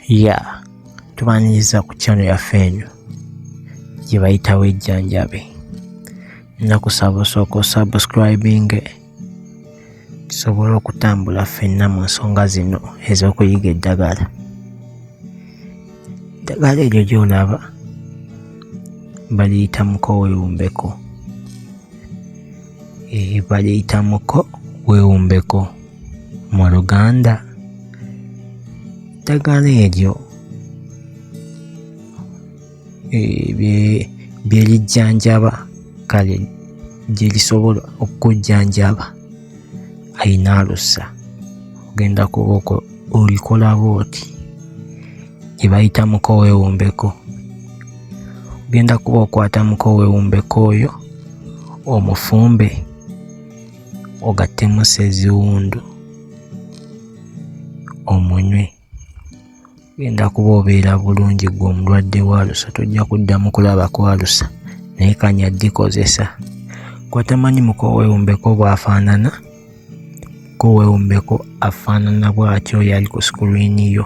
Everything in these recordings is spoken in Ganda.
ya tubaniriza ku kyano yaffe eno gye bayitawo ejjanjabe nakusaba osooka osubscribing tusobole okutambula ffenna mu nsonga zino ez'okuyiga eddagala eddagala eryo gy'olaba baliyita muko wewumbeko eh, baliyita muko wewumbeko mu luganda eddagala eryo byerijjanjaba kale gyerisobola okukujjanjaba ayina alusa ogenda kubaoko olikolaba oti gyebayita mukowewumbeko ogenda kuba okwata mukowewumbeko oyo omufumbe ogattemu seziwundu omunywe genda kuba obeera bulungi gwe omulwadde waalusa tojja kuddamu kulaba kwalusa naye kanya gikozesa gwatamanyi muko wewumbeko bwafaanana ko wewumbeko afaanana bwatyo yali ku sikuliini yo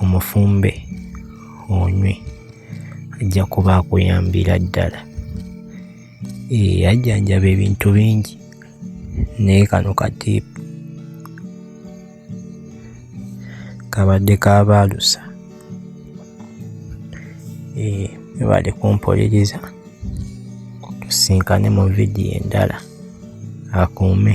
omufumbe onywe ajja kuba akuyambira ddala eh, ajjanjaba ebintu bingi naye kano katiipu kabadde kabaalusa eh, ebale kumpuliriza tusinkane mu vidiyo endala akuume